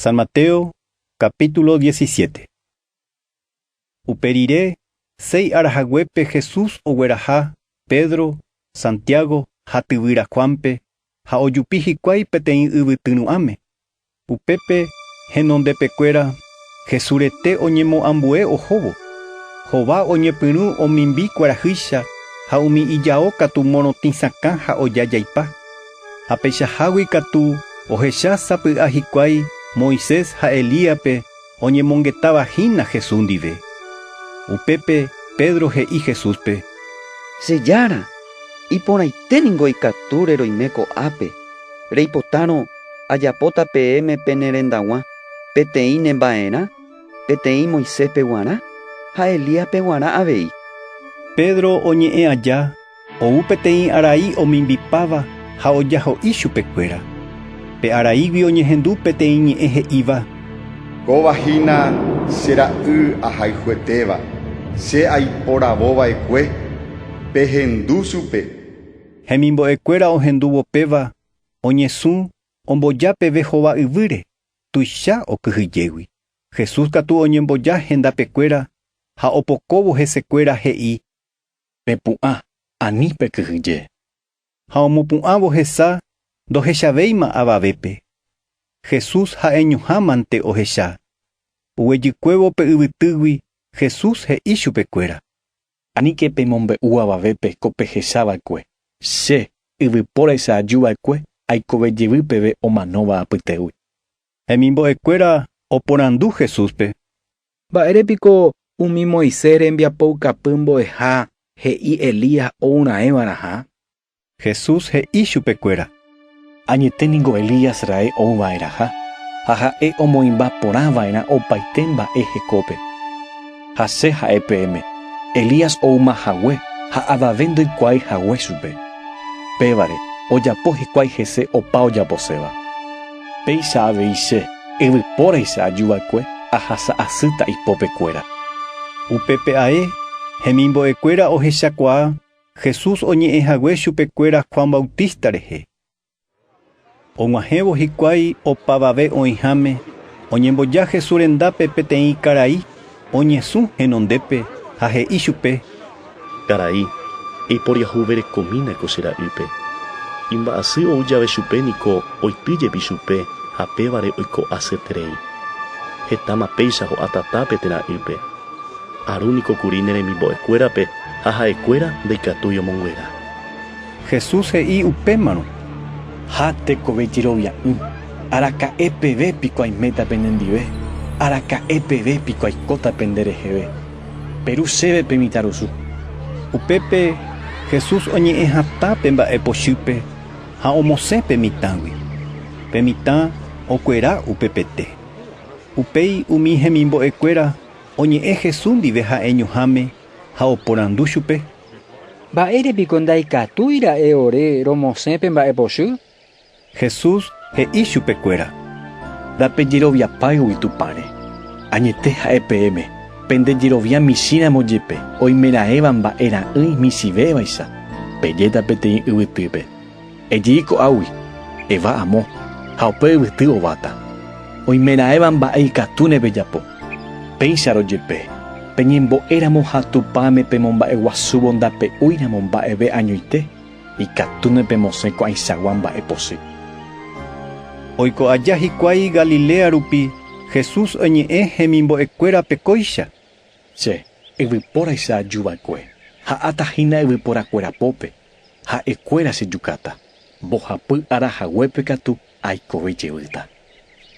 San Mateo capítulo diecisiete. Upe rire, seis ára haguépe Jesús ogueraha Pedro, Santiago ha tyvyra Juánpe ha ojupi hikuái peteĩ yvyty ru'ãme. Upépe henondepekuéra Jesús rete oñemoambue ohóvo. Hova oñepyrũ omimbi kuarahýicha ha umi ijao katu morotĩ sakã ha oja jaipa. Ha peichahágui katu ohecha sapy'a hikuái Moisés ha Elíape oñemongetáva hína Jesús ndive. Upépe Pedro he'i Jesúspe: Che Jára, iporãite ningo ikatúre roime ko'ápe, reipotárõ ajapóta peẽme pene rendaguã peteĩ ne mba'erã, peteĩ Moiséspe guarã ha Elíaspe guarã avei. Pedro oñe'ẽ aja Ou peteĩ arai omimbipáva ha ojaho'i chupekuéra. Pe araígui oñehendu peteĩ ñe'ẽ he'íva. Kóva hína che ra'y ahayhuetéva, che aiporavova'ekue, pehendu chupe. Hemimbo'ekuéra ohendúvo péva oñesũ omboja peve hova yvýre, tuicha okyhyjégui. Jesús katu oñemboja hendapekuéra ha opokóvo hesekuéra he'i Pepu'ã ani pekyhyje. Ha omopu'ãvo hesa ndohechavéima avavépe. Jesús ha'eñohámante ohecha. Oguejykuévo pe yvytýgui Jesús he'i chupekuéra. Aníke pemombe'u avavépe ko pehechava'ekue. Che, yvypóra isa'ajuva'ekue aikove jevy peve omanóva apytégui. Hemimbo'ekuéra oporandu Jesúspe, Mba'ére piko umi Moisés rembiapoukapy mbo'eha he'i Elías ourãeva'erãha? Jesús he'i chupekuéra, Añete ningo Elías raẽ ouva'erãha, ha ha'e omoĩmba porãva'erã opaite mba'e hekópe. Ha che ha'e peẽme, Elías oúma hague ha avave ndoikuaái hague chupe. Pévare, ojapo hikuái hese opa ojaposéva. Péicha avei che, yvypóraicha ajuva'ekue ahasa asýta ipopekuéra. Upépe ae, hemimbo'ekuéra ohechakuaa Jesús oñe'ẽ hague chupekuéra Juan Bautista rehe. Og̃uahẽvo hikuái opavave oĩháme, oñemboja Jesús rendápe peteĩ karai. oñesũ henondépe ha he'i chupe, Karai, eiporiahuverekomína ko che ra'ýpe. Imba'asy ou jave chupe niko oity jepi chupe ha pévare oiko asy terei. Hetáma péicha ho'a tatápe térã ýpe. Aru niko kuri ne remimbo'ekuérape ha ha'ekuéra ndaikatúi omonguera. Jesús he'i upémarõ, Ha tekove jerovia'ỹ. Araka'e peve piko aiméta penendive? Araka'e peve piko aikóta pende reheve? Peru chéve pe mitãrusu. Upépe Jesús oñe'ẽ hatã pe mba'e pochýpe ha omosẽ pe mitãgui. Pe mitã okuera upepete. Upéi umi hemimbo'ekuéra oñe'ẽ Jesús ndive ha'eñoháme ha oporandu chupe. Mba'ére piko ndaikatúi ra'e ore romosẽ pe mba'e pochy? Jesús he'i chupekuéra: Ndapejeroviapáigui Tupãre. Añete ha'e peẽme, pende jerovia michĩramo jepe oimeraẽva mba'e ra'ỹi michĩvévaicha, pejéta peteĩ yvytýpe. Ejei ko'águi, eva amo, ha upe yvyty ováta. Oimeraẽva mba'e ikatúne pejapo. Péicharõ jepe, peñembo'éramo ha Tupãme pemomba'eguasúvo ndape'úiramo mba'eve añoite, Ikatúne pemosẽ ko'ãichagua mba'e pochy. Oiko aja hikuái Galilea rupi, Jesús oñe'ẽ hemimbo'ekuérape kóicha. Che, yvypóraicha ajuva'ekue, ha'áta hína yvyporakuéra pópe, ha'ekuéra chejukáta, mbohapy ára haguépe katu aikove jevýta.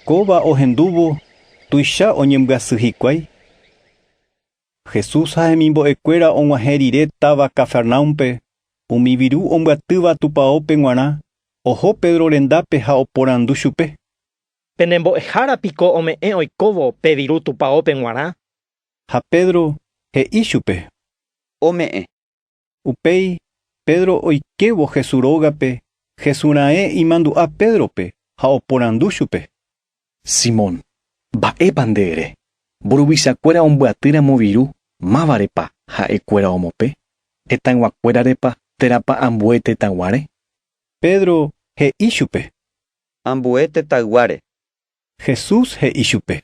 Kóva ohendúvo tuicha oñembyasyhikuái. Jesús ha hemimbo'ekuéra og̃uahẽ rire táva Cafarnaúmpe, umi viru ombyatýva tupaópe g̃uarã, oho Pedro rendápe ha oporandu chupe. Pene mbo'ehára piko ome'ẽ oikóvo pe viru tupaópe g̃uarã? Ha Pedro he'i chupe. Ome'ẽ. Upéi Pedro oikévo Jesús rógape, Jesús raẽ imandu'a Pédrope ha oporandu chupe. Simón, mba'épa nde ere? Mburuvichakuéra ombyatyiramo viru, mávarepa ha'ekuéra omope? Hetãyguakuérarepa térãpa ambue tetãguáre? Pedro he'i chupe. Ambue tetãyguáre. Jesús he'i chupe.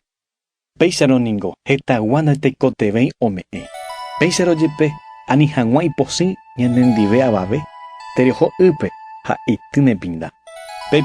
Péicharõ ningo hetagua ndaikotevẽi ome'ẽ. Péicharõ jepe, ani hag̃ua iposĩ ñanendive avave, tereho ýpe ha ity nepinda. Pe.